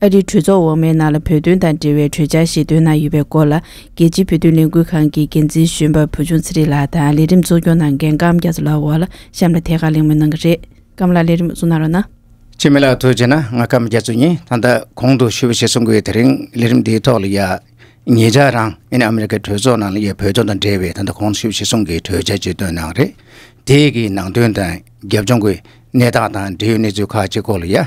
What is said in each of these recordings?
ཨ་རིའི་གྲོས་ཚོགས་འོག་མའི་ནང་ལ་བོད་དོན་དང་འབྲེལ་བའི་གྲོས་འཆར་ཞིག་འདོན་གནང་ཡོད་པའི་སྐོར་ལ་རྒྱལ་སྤྱིའི་བོད་དོན་ལས་འགུལ་ཁང་གི་འགན་འཛིན་གཞོན་པ་བུ་ཆུང་ཚེ་རིང་ལགས་དང་ལས་རིམ་གཙོ་སྐྱོང་ནང་འགན་ཀམ་རྒྱ་མཚོ་ལགས་འོག་ལ་གཤམ་ལ་ཐད་ཀར་གླེང་མོལ་གནང་གི་རེད། ཀམ་ལགས་ལས་རིམ་གཙོ་གནང་རོགས་གནང། ཆེ་མི་ལགས་ཐུགས་ཆེ་ན་ང་ཀམ་རྒྱ་མཚོ་གཉིས་ད་ལྟ་གོང་དུ་ཞུ་བ་ཞིག་གསུང་གི་ཡོད་དེ་རིང་ལས་རིམ་འདིའི་ཐོག་ལ་ཡང་ངེད་ཅག་རང་ཡེ་ནས་ཨ་མི་རི་ཀའི་གྲོས་ཚོགས་ནང་ལ་ཡོད་བོད་དོན་དང་འབྲེལ་བའི་ད་ལྟ་གོང་དུ་ཞུ་བ་ཞིག་གསུང་གི་གྲོས་འཆར་ཅིག་བཏོན་གནང་རེད་དེ་གི་ནང་དོན་དང་རྒྱབ་ལྗོངས་ཀི་གནས་སྟངས་དང་འབྲེལ་ཡོད་གནས་ཚུལ་ཁག་ཅིག་སྐོར་ལ་ཡང།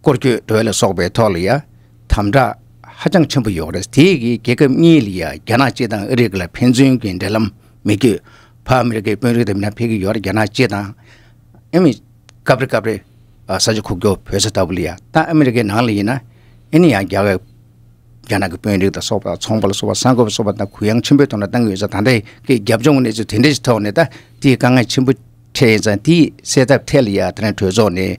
སྐོར་སྐྱོད་བྲོ་བ་ལ་སོགས་པའི་ཐོག་ལ་ཡང་དམ་དྲག་ཧ་ཅང་ཆེན་པོ་ཡོང་རེས་དེ་གིས་རྒྱལ་ཁབ་གཉིས་ལ་ཡང་རྒྱ་ནག་སྤྱི་དང་ཨ་རིག་ལ་ཕན་ཚུན་གྱི་འབྲེལ་ལམ་མི་བསྐྱོད་བར་ཨ་མི་རི་ཀའི་དཔོན་རིགས་དེ་མི་རྣམས་ཕེབས་ཀྱི་ཡོད་རེད་རྒྱ་ནག་སྤྱི་དང་ཨ་མི་སྐབས་རེ་སྐབས་རེ་ས་ཆ་ཁུག་རྒྱོ་བོད་ས་ལྟ་བུ་ལ་ཡང་ད་ཨ་མི་རི་ཀའི་ནང་ལ་ཡིན་ན་ཨེ་ནི་ཡང་རྒྱ་བའི་རྒྱ་ནག་གི་དཔོན་རིགས་དང་སོགས་པ་ཚོང་པ་ལ་སོགས་པ་ས་འགོ་བ་སོགས་པ་དང་གུ་ཡངས་ཆེན་པོའི་ཐོག་ལ་བཏང་གི་ཡོད་ས་ད་ལྟ་གི་རྒྱབ་ལྗོངས་གི་གནས་ཚུལ་དེ་འདྲའི་ཐོག་ནས་ད་དེའི་དཀའ་ངལ་ཆེན་པོ་འཕྲད་ཡིན་ཙང་དེའི་སེལ་ཐབས་ཐད་ལ་ཡང་ད་ནི་གྲོས་ཚོགས་ནས་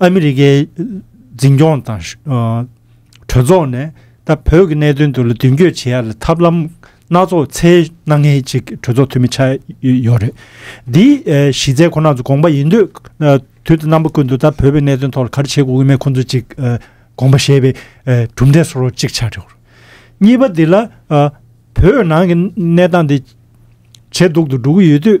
ཨ་མི་རི་ཀའི་འཛིན་སྐྱོང་དང། གྲོས་ཚོགས་ནས་ད་བོད་ཀྱི་གནད་དོན་དུ་ལ་མདུན་སྐྱོད་བྱེད་ཡ་ལ་ཐབས་ལམ་སྣ་ཚོགས་འཚལ་གནང་མཁན་ཅིག་གྲོས་ཚོགས་འཐུས་མི་ཆགས་ཡོད་རེད། འདིའི་གཞི་རྩའི་ཁོ་ན་ཚོ་དགོངས་པ་ཡིན་དུས་དུས་རྣམ་པ་ཀུན་ཏུ་ད་བོད་པའི་གནད་དོན་ཐོག་ལ་ག་རེ་བྱེད་དགོས་ཀྱི་མེད་ཁོང་ཚོ་ཅིག་དགོངས་པ་བཞེས་པའི་གྲུབ་འབྲས་སོགས་ཅིག་ཆགས་ཡོད་རེད། གཉིས་པ་འདི་ལ་བོད་ནང་གི་གནས་སྟངས་འདི་ཇེ་སྡུག་ཏུ་འགྲོ་གི་ཡོད་དུས།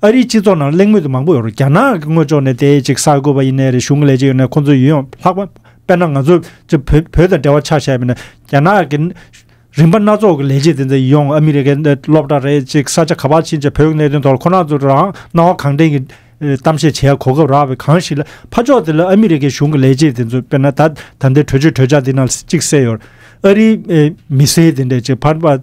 ཨ་རིའི་སྤྱི་ཚོགས་ནང་གླེང་མོལ་དེ་མང་པོ་ཡོད་རུང་རྒྱ་ནག་གི་སྔོན་ཕྱོགས་ནས་དེ་ཅིག་གསར་འགོད་པ་ཡིན་ནའི་རེ་ཞུ་ལས་ཀྱི་ཡོད་ནའི་ཁོང་ཚོའི་ཡུལ་ཡང་ལྷག་པ་དཔེར་ན་ང་ཚོས་ཅིག་བོད་དང་འབྲེལ་བ་ཆགས་བྱས་པས་ན་རྒྱ་ནག་གི་རིམ་པ་སྣ་ཚོགས་ཀྱི་ལས་བྱེད་དེ་ཚོ་ཡོང་ཨ་མི་རི་ཀའི་སློབ་གྲྭ་རེད་ཅིག་ས་ཆ་ག་པར་ཕྱིན་ཅིག་བོད་ཀྱི་གནད་དོན་ཐོག་ལ་ཁོ་ནག་ཚོས་རང་སྣང་བ་གང་དྲན་གྱི་གཏམ་བཤད་བྱེད་ཡ་གོ་སྐབས་རག་བས་གང་ཞིག་ལ་ཕ་ཕྱོགས་དེ་ལ་ཨ་མི་རི་ཀའི་གཞུང་གི་ལས་བྱེད་དེ་ཚོས་དཔེར་ན་ད་ད་ལྟའི་གྲོས་ཆོད་གྲོས་འཆར་འདི་ནང་ལ་ཅིག་གསལ་ཡོད། ཨ་རིའི་མི་སེར་དེ་འདྲས་ཅིག་ཕར་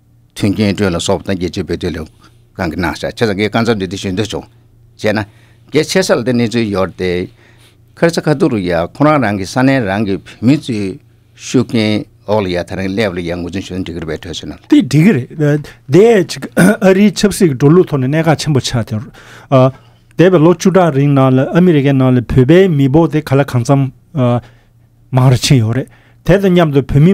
མཐུན་རྐྱེན་སྤྲོད་ལ་སོགས་དང་རྒྱལ་སྤྱིའི་བོད་དོན་ལས་ཁང་གི་ནང་བཤད་ཆེ་ས་འགའི་སྐར་མཚམས་འདི་དུས་ཞུ་འདོད་བྱུང། བྱས་ན། གལ་ཆེ་ས་ལ་དེ་གནས་ཚུལ་ཡོད་དེ། ཁར་ས་ཁ་ཐུག་རུ་ཡ་ཁོ་རང་རང་གི་ས་གནས་རང་གི་བོད་མི་ཚོའི་ཤུགས་རྐྱེན་འོག་ལ་ཡ་ད་རིང་སླེབས་ལ་ཡ་ངོ་རྫུན་ཞུ་ན་འགྲིག་གི་རེད་པས་གྲོས་བྱས་ན། དེ་འགྲིག་གི་རེད། དེའི་ཕྱིར་ཨ་རིའི་ཆབ་སྲིད་ཀྱི་འགྲོ་ལུགས་ཐོག་ནས་གནད་འགག་ཆེན་པོ་ཆགས་ཏེ། འདས་པའི་ལོ་བཅུ་ཕྲག་རིང་ནང་ལ་ཨ་མི་རི་ཀའི་ནང་ལ་བོད་པའི་མི་འབོར་དེ་ག་ལ་གང་འཚམས་མང་རུ་ཕྱིན་ཡོད་རེད། དེ་དང་མཉམ་དུ་བོད་མི།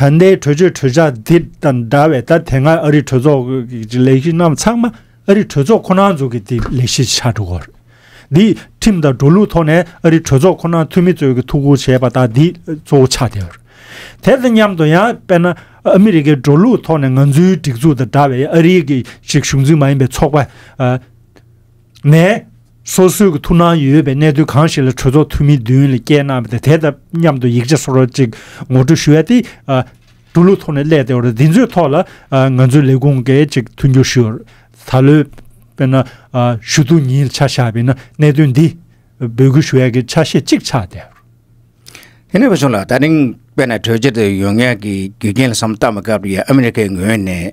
ད་ལྟའི་གྲོས་ཆོད་གྲོས་འཆར་འདི་དང་འདྲ་བའི་ད་དེ་སྔའི་ཨ་རིའི་གྲོས་ཚོགས་ཀྱི་ལས་གཞི་རྣམས་ཚང་མ་ཨ་རིའི་གྲོས་ཚོགས་ཁོ་ནར་འཛུགས་ཀྱི་འདི་ལས་གཞི་ཆགས་འགྲོ་གི་རེད། འདི་ཁྲིམས་དང་འགྲོ་ལུགས་ཐོག་ནས་ཨ་རིའི་གྲོས་ཚོགས་ཁོ་ནར་འཐུས་མི་གཙོས་ཀྱི་ཐུགས་ཁུར་བྱས་པ་དག་འདི་གཙོ་བོ་ཆགས་བསྡད་ཡོད་རེད། དེ་དང་མཉམ་དུ་ཡང་དཔེར་ན་ཨ་མི་རི་ཀའི་འགྲོ་ལུགས་ཐོག་ནས་ང་ཚོའི་སྒྲིག་འཛུགས་དང་འདྲ་བའི་ཨ་རིའི་གཞིས་བཞུགས་འཛིན་མ་ཡིན་པའི་ཚོགས་པ། ནས། སོ་སོའི་གི་ཐུགས་སྣང་ཡོད་པའི་གནས་ཚུལ་གང་ཞིག་ལ་གྲོས་ཚོགས་འཐུས་མི་བདུན་ལས་བསྐྱལ་གནང་བ་དེ་དང་མཉམ་དུ་ཡིག་ཆ་སོགས་རོ་གཅིག་ངོ་སྤྲོད་ཞུ་ཡ་དེ། འགྲོ་ལུགས་ཐོག་ནས་གླས་ཏེ་འོར་འདི་ཚོའི་ཐོག་ལ་ང་ཚོའི་ལས་ཁུངས་གི་གཅིག་མཐུན་འགྱུར་ཞུ། ད་ལོའི། དཔེར་ན། ཞུ་གཏུག་ཉིན་ཆ་བཞག་པའི་ན་གནད་དོན་འདི། འབོད་སྐུལ་ཞུ་ཡ་གི་ཆ་ཤས་གཅིག་ཆགས་ཏེ། དེ་ནས་བཟུང་ལ་ད་རིང་དཔེར་ན་གྲོས་ཆོད་དེ་ཡོང་ཡ་གི་རྒྱུ་རྐྱེན་ལ་སམ་སྟབས་མི་དགའ་བ་ཡོད་ཨ་མི་རི་ཀའི་ངོས་ནས་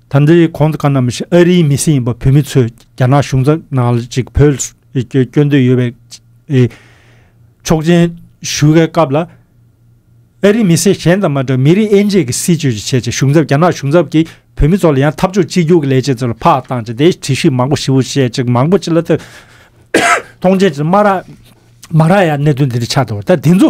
ད་འདི་གོང་དུ་ཀ་ན་མི་ཞིག་ཨ་རིའི་མི་སེར་ཡིན་པ་བོད་མི་ཚོས་རྒྱ་ནག་གཞུང་ཚབ་ནང་ལ་ཅིག་བོད་སྐྱོད་འདོད་ཡོད་པའི་ཆོག་མཆན་ཞུ་དཀའི་སྐབས་ལ། ཨ་རིའི་མི་སེར་གཞན་དང་མ་འདྲ་བར་མི་རིགས་དབྱེ་འབྱེད་ཀྱི་སྲིད་བྱུས་ཀྱི་ཆེད་དུ་གཞུང་ཚབ་རྒྱ་ནག་གཞུང་ཚབ་ཀྱིས་བོད་མི་ཚོ་ལ་ཡང་འཐབ་ཕྱོགས་གཅིག་གྱུར་གྱི་ལས་བྱེད་ཚོ་ལ་ཕག་བཏང་བྱས་ཏེ་དྲི་གཞི་མང་པོ་ཞིབ་བོ་བཤད་ཅིག་མང་པོ་ཅི་ལ་ཐུག་མཐོང་མཆན་ཅིག་མ་རག་མ་རག་ཡ་གནད་དོན་འདི་འདྲ་ཆགས་འདུག་ད་དེ་ཚོ་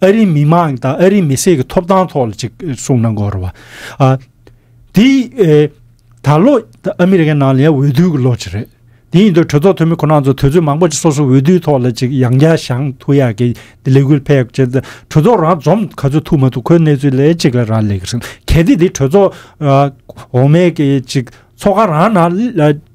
ཨ་རིའི་མི་མང་དང་ཨ་རིའི་མི་སེར་གྱི་ཐོབ་ཐང་ཐོག་ལ་ཅིག་གསུངས་གནང་དགོས་རེད་བ། དེ་ད་ལོ་ཨ་མི་རི་ཀའི་ནང་ལ་ཡང་འོས་བསྡུའི་གི་ལོ་ཅིག་རེད། དེ་ཡིན་དུས་གྲོས་ཚོགས་འཐུས་མི་ཁོ་ན་ཚོ་དུས་ཚོད་མང་པོ་ཅིག་སོ་སོའི་འོས་བསྡུའི་ཐོག་ལ་ཅིག་ཡང་བསྐྱར་བཞང་ཐུག་ཡག་གི་ལས་འགུལ་ཕལ་ཡག་ཅིག་གྲོས་ཚོགས་རང་འཛོམས་ག་ཚོད་ཐུག་མ་ཐུག་ཁོའི་གནས་ཚུལ་ལས་ཅིག་ལ་རག་ལས་གི་རེད་གལ་ཏེ་དེ་གྲོས་ཚོགས་འོག་མའི་གི་ཅིག་ཚོགས་ཁང་རང་ནང་ལ་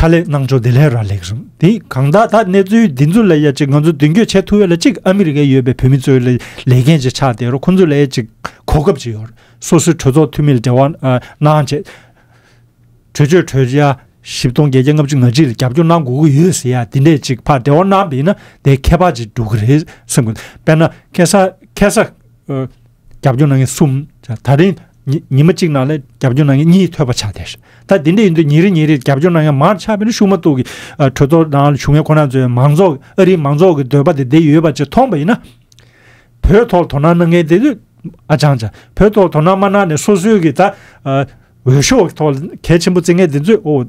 ཕྱག་ལས་གནང་ཕྱོགས་དེ་ལས་ར་ལེགས་རུང་དེ་གང་དག་ད་གནས་ཚུལ་འདི་ཚོ་ལ་ཡ་ཅིག་ང་ཚོ་མདུན་སྐྱོད་བྱེད་ཐུབ་ཡོད་ལ་ཅིག་ཨ་མི་རི་ཀའི་ཡོད་པའི་བོད་མི་ཚོའི་ལས་ལས་འགན་ཅིག་ཆགས་དེ་རུ་ཁོ་ཚོ་ལ་ཡ་ཅིག་གོ་སྐབས་ཅིག་ཡོད་སོ་སོའི་གྲོས་ཚོགས་འཐུས་མི་ལ་འབྲེལ་བ་གནང་ཆེད་གྲོས་ཆོད་གྲོས་འཆར་བཞི་སྟོང་བརྒྱད་བརྒྱ་ལྔ་བཅུ་ང་གཅིག་ལ་རྒྱབ་སྐྱོར་གནང་དགོས་ཀྱི་ཡོད་ཟེར་ཡ་དེ་འདྲས་ཅིག་ཕར་འབྲེལ་བ་གནང་བས་ན་དེ་ཁྱད་པར་ཅིག་འགྲོ་གི་རེད་བསམ་གི་འདུག་དཔེར་ན་ཁེ་ས་ཁེ་ས་རྒྱབ་སྐྱོར་གནང་མཁན་གསུམ་ད་རིང་ཉི་མ་གཅིག་ནང་ལ་རྒྱབ་སྐྱོར་གནང་མཁན་གཉིས་ཐོད་པ་ཆགས་བསྡད་ཤག་ད་དེ་འདྲ་ཡིན་དུས་ཉིན་རེ་ཉིན་རེར་རྒྱབ་སྐྱོར་གནང་མཁན་མང་དུ་ཆགས་པས་ན་ཤུགས་མ་གཏོགས་ཀྱི་གྲོས་ཚོགས་ནང་ལ་བྱུང་མཁན་ཁོ་ན་ཚོས་མང་ཚོགས་ཨ་རིའི་མང་ཚོགས་ཀྱི་འདོད་པ་དེ་འདི་ཡོད་པ་ཅིག་མཐོང་པ་ཡིན་ན། བོད་ཐོག་དོ་སྣང་གནང་མཁན་དེ་ཚོས་ཨ་ཅང་ཅང་བོད་ཐོག་དོ་སྣང་མ་གནང་ནས་སོ་སོའི་གི་ད་འོས་ཤོག་གི་ཐོག་ལ་གལ་ཆེན་པོ་བརྩི་མཁན་དེ་ཚོས་ཨོ།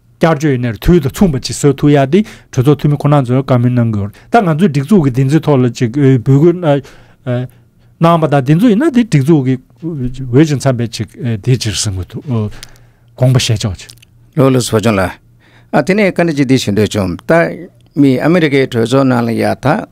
བསྐྱར་བཅོས་ཡིན་ནའི་དུས་དང་མཚུངས་པ་ཅིག་བཟོས་ཐུབ་ཡག་དེ་གྲོས་ཚོགས་འཐུས་མི་ཁོ་ན་ཚོས་བཀའ་མོལ་གནང་དགོས་ད་ང་ཚོའི་སྒྲིག་འཛུགས་ཀྱི་བདེན་རྫུན་ཐོག་ལ་ཅིག་འབོད་སྐུལ་གནང་བ་དང་བདེན་རྫུན་ཡིན་ན་དེ་སྒྲིག་འཛུགས་ཀྱི་འོས་ཀྱི་མཚམས་པས་ཅིག་དེ་ཅིག་གཟིགས་མི་ཐུབ་དགོངས་པ་བཞེས་ཆོག་ཅིག། ལོ་ལོ་ཟོ་ཆུང་ལ། ཨ་དེ་ནས་བཀའ་འདྲི་ཅིག་འདི་ཞུ་འདོད་བྱུང། ད་མི་ཨ་མི་རི་ཀའི་གྲོས་ཚོགས་ནང་ལ་ཡག་ཐག།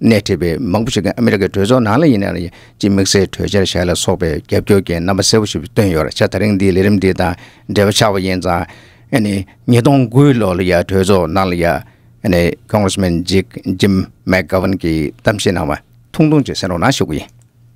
སྣེ་ཁྲིད་པའི་མང་པོ་ཞིག་གིས་ཨ་མི་རི་ཀའི་གྲོས་ཚོགས་ནང་ལ་ཡིན་ནའང་ཡིན་གཅིག་དམིགས་བསལ་གྲོས་འཆར་བཞག་ལ་སོགས་པའི་རྒྱབ་སྐྱོར་གྱི་རྣམ་པ་གསལ་བོ་ཞིག་བཏོན་ཡོད་ར་ཆ་ད་རིང་འདིའི་ལས་རིམ་འདི་དང་འབྲེལ་བ་ཆགས་པ་ཡིན་ཙང། ཉིས་སྟོང་དགུའི་ལོ་ལ་ཡང་གྲོས་ཚོགས་ནང་ལ་ཡང། Congressman Jim McGovern གྱིས་གཏམ་བཤད་གནང་བ་ཐུང་ཐུང་ཅིག་གསན་རོགས་གནང་ཞུ་གི་ཡིན།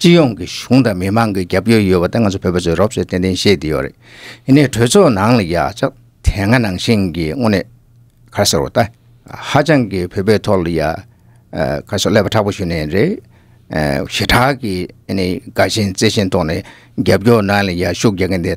སྤྱི་ཡོངས་ཀྱི་གཞུང་དང་མི་དམངས་ཀྱི་རྒྱབ་སྐྱོར་ཡོད་པ་དེ་ང་ཚོ་བོད་པ་ཚོས་རོབ་ཚོད་ཏན་ཏན་ཤེས་བསྡད་ཡོད་རེད། ཡིན་ནའི་གྲོས་ཚོགས་ནང་ལ་ཡག་ཆ་དེ་སྔ་ནང་བཞིན་གྱི་དངོས་གནས་གར་སོར་བ་ད་ཧ་ཅང་གི་བོད་པའི་ཐོག་ལ་ཡ་གར་སོར་ཀླད་པ་ཁྲག་པོ་ཞུ་ནའི་རེད། ཞེ་དྲག་གི་ཡིན་ནའི་དགའ་ཞེན་བརྩེ་ཞེན་ཐོག་ནས་རྒྱབ་སྐྱོར་ནང་ལ་ཡ་ཤུགས་རྒྱག་མཁན་དེ་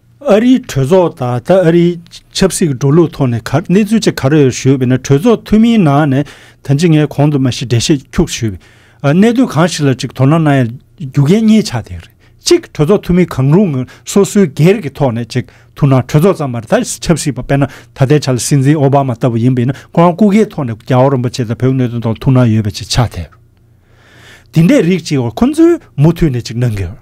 ཨ་རིའི་གྲོས་ཚོགས་དང་ད་ཨ་རིའི་ཆབ་སྲིད་ཀྱི་འགྲོ་ལུགས་ཐོག་ནས་གནས་ཚུལ་ཅིག་ག་རེ་ཡོད་ཞུས་པ་ན་གྲོས་ཚོགས་འཐུས་མིའི་ནང་ནས་ད་ཅི་ངས་གོང་དུ་མ་ཤི་འདྲེ་བཤད་འཁྱུག་ཞུས་པའི་གནད་དོན་གང་ཞིག་ལ་ཅིག་དོ་སྣང་གནང་ཡ་རྒྱུ་གན་རྙེད་ཆགས་དེ་རེད་གཅིག་གྲོས་ཚོགས་འཐུས་མི་གང་རུང་ངོ་སོ་སོའི་སྒེར་གྱི་ཐོག་ནས་ཅིག་ཐུག་ན་གྲོས་ཚོགས་ཙམ་མ་རེད་ད་ཆབ་སྲིད་པ་དཔེར་ན་ད་ལྟའི་ཆ་ལ་སྲིད་འཛིན་ཨོ་བྷ་མ་ལྟ་བུ་ཡིན་པས་ན་ཁོ་རང་སྐུ་སྒེར་ཐོག་ནས་རྒྱ་བོད་རིན་པོ་ཆེ་དང་བོད་ཀྱི་གནད་དོན་ཐོག་ལ་ཐུག་སྣང་ཡོད་པ་ཅིག་ཆགས་དེ་རེད་དེ་འདྲའི་རིགས་ཅིག་ཁོ་ཚོས་མུ་མཐུད་ནས་ཅིག་གནང་དགོས།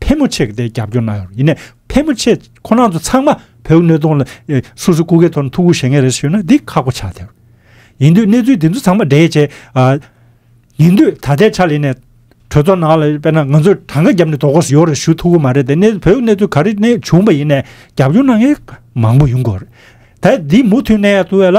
ཕལ་མོ་ཆེ་གི་དེ་རྒྱབ་སྐྱོར་གནང་ཡོད་ཡིན་ནས་ཕལ་མོ་ཆེ་ཁོ་ནང་དུ་ཚང་མ་བོད་མི་ནུས་སྟོང་ལ་སུ་སུ་སྐུ་སྒེར་ཐོག་ནས་ཐུགས་ཁུར་བཞེས་མཁན་རེད་ཞུས་ན་འདི་ཁག་པོ་ཆགས་ཐལ། ཡིན་དུས་གནས་ཚུལ་དེ་ཚོ་ཚང་མ་འདྲེས་བྱས། ཡིན་དུས་ད་ལྟའི་ཆ་ལས་ནས་གྲོས་ཚོགས་ནང་ལ་དཔེར་ན་ང་ཚོས་གྲངས་ཀ་བརྒྱབ་ནས་དོ་དགོང་སུ་ཡོད་རེད་ཞུ་ཐུགས་ཁུར་མ་རེད་དེ་གནས་བོད་གནས་ཚུལ་ག་རེ་གནས་བྱུང་པ་ཡིན་ནས་རྒྱབ་སྐྱོར་གནང་མཁན་མང་པོ་ཡོང་དགོས་རེད། ད་འདི་མུ་མཐུད་གནས་ཡག་ཏུ་བས་ལ།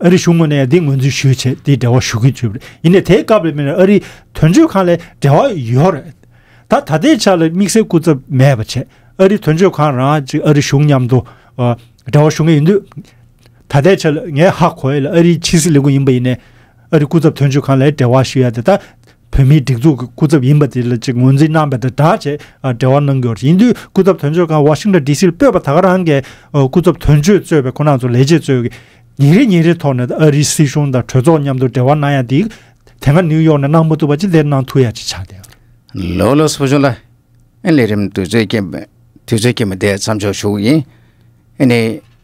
ཨ་རིའི་གཞུང་ངོས་ནས་འདི་ངོས་འཛིན་ཞུས་བྱས་དེའི་འབྲེལ་བ་ཞུ་གི་ཡོད་རེད་ཡིན་ནས་དེའི་སྐབས་ལ་མིན་ཨ་རིའི་དོན་གཅོད་ཁང་ལས་འབྲེལ་བ་ཡོད་རེད་ད། ད་ལྟའི་ཆ་ལ་དམིགས་བསལ་སྐུ་ཚབ་མེད་པ་ཆད་ཨ་རིའི་དོན་གཅོད་ཁང་རང་གཅིག་ཨ་རིའི་གཞུང་མཉམ་དུ་འབྲེལ་བ་ཞུ་ངེས་ཡིན་དུས། ད་ལྟའི་ཆ་ལ་ངའི་ཧ་གོ་ཡས་ལ་ཨ་རིའི་ཕྱི་སྲིད་ལས་ཁུངས་ཡིན་པ་ཡིན་ནས། ཨ་རིའི་སྐུ་ཚབ་དོན་གཅོད་ཁང་ལས་འབྲེལ་བ་ཞུ་ཡས་དེ་ད། བོད་མིའི་སྒྲིག་འཛུགས་ཀྱི་སྐུ་ཚབ་ཡིན་པ་དེ་ལ་ཅིག་ངོས་འཛིན་གནང་པའི་དྲིལ་བསྒྲགས་ཆེད་འབྲེལ་བ་གནང་རྒྱུ་ཡིན་དུས་སྐུ་ཚབ་དོན་གཅོད་ཁང Washington DC ལ་སྤོས་པ་དག་རང་གི་སྐུ་ཚབ་དོན་གཅོད་གཙོས་པའི་ཁོ་ན་ཚོ་ལས་བྱེད་གཙོས་ཀྱི་ཉིན་རེ་ཉིན་རེའི་ཐོག་ནས་ཨ་རིའི་སྲིད་གཞུང་དང་གྲོས་ཚོགས་མཉམ་དུ་འབྲེལ་བ་གནང་ཡ་དེ་དེ་སྔ New York ནས་གནང་མ་ཐུབ་པ་ཅིག་དེར་གནང་ཐུབ་ཡ་ཅིག་ཆགས་ཏེ། ལོ་ལོ་སོ་བྱུང་ལ་ཨེ་ལས་རིམ་དུས་ཚོད་ཀྱི་དུས་ཚོད་ཀྱི་མི་དེ་མཚམས་འཇོག་ཞུ་ཡིན་ཨེ་ནི།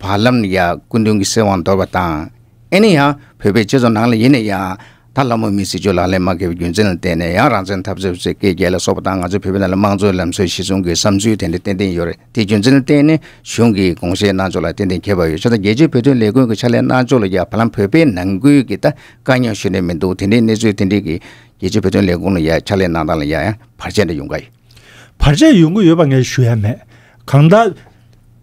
བར་ལམ་ནས་ཡང་སྐུ་མདུན་གྱི་སྲིད་དབང་འདོར་བ་དང། ཨེ་ནི་ཡང་བོད་པའི་སྤྱི་ཚོགས་ནང་ལ་ཡིན་ན་ཡང། ད་ལྷ་མོ་མིའི་སྲིད་བྱུས་ལག་ལེན་མ་འཁེལ་བའི་རྒྱུ་མཚན་ལ་བརྟེན་ནས་ཡང་རང་བཙན་འཐབ་རྩོད་ཟེར་སྐད་རྒྱལ་ལ་སོགས་པ་དང་ང་ཚོའི་བོད་པའི་ནང་ལ་དམངས་གཙོའི་ལམ་སྲོལ་གཞི་བཟུང་གི་བསམ་ཚུལ་དེ་འདྲ་ཏན་ཏན་ཡོད་རེད་དེའི་རྒྱུ་མཚན་ལ་བརྟེན་ནས་གཞུང་གིས་དགོངས་བཞེས་གནང་ཕྱོགས་ལ་ཏན་ཏན་ཁྱད་པར་ཡོད་ཆོག་ད་རྒྱལ་སྤྱིའི་བོད་དོན་ལས་ཁུངས་ཀྱི་ཕྱག་ལས་གནང་ཕྱོགས་ལ་ཡང་བར་ལམ་བོད་པའི་ནང་ཁུལ་གྱི་ད་དཀའ་རྙོག་ཞུ་ནས་མི་འདུག་དེ་འདྲའི་གནས་ཚུལ་དེ་འདྲའི་གིས་རྒྱལ་སྤྱིའི་བོད་དོན་ལས་ཁུངས་ལ་ཡང་ཕྱག་ལས་གནང་སྟངས་ལ་ཡང་བར་ཆད་འདྲ་ཡོང་གི། བར་ཆད་ཡོང་གི་ཡོད་པ་ངས་ཞུ་ཡ་མེད། གང་ལྟར།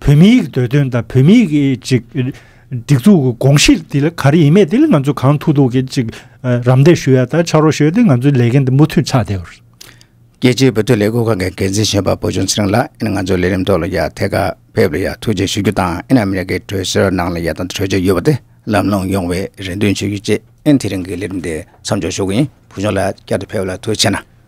བོད་མི་ཡིག་འདོད་དོན་དང་བོད་མི་ཡིག་གི་ཅིག་སྒྲིག་འཛུགས་ཀྱི་དགོངས་གཞི་དེ་ལ་ག་རེ་ཡིན་མེད་དེ་ལ་ང་ཚོས་གང་ཐུག་ཐུག་གིས་ཅིག་རམ་འདེགས་ཞུ་ཡ་དང་ཕྱག་རོགས་ཞུ་ཡ་དེ་ང་ཚོའི་ལས་འགན་དེ་མུ་མཐུད་ཆགས་བསྡད་ཡོད། རྒྱལ་སྤྱིའི་བོད་དོན་ལས་འགུལ་ཁང་གི་འགན་འཛིན་གཞོན་པ་བོད་ལྗོངས་ཚེ་རིང་ལགས་ཨིན་ང་ཚོའི་ལས་རིམ་ཐོག་ལ་ཡ་ཐད་ཀར་ཕེབས་ལ་ཡ་ཐུགས་རྗེ་ཞུ་རྒྱུ་དང་ཨིན་ཨ་མི་རི་ཀའི་གྲོས་བསྡུར་ནང་ལ་ཡ་དང་གྲོས་ཆོད་ཡོད་པ་དེ་ལམ་ལྷོང་ཡོང་བའི་རེ་འདུན་ཞུ་རྒྱུ་བཅས་ཨིན་དེ་རིང་གི་ལས་རིམ་དེ་མཚམས་འཇོག་ཞུ་གི་ཡིན་བོད་ལྗོངས་ལ་བསྐྱར་དུ་ཕེབས་ལ་ཐུགས་ཆེ་ན།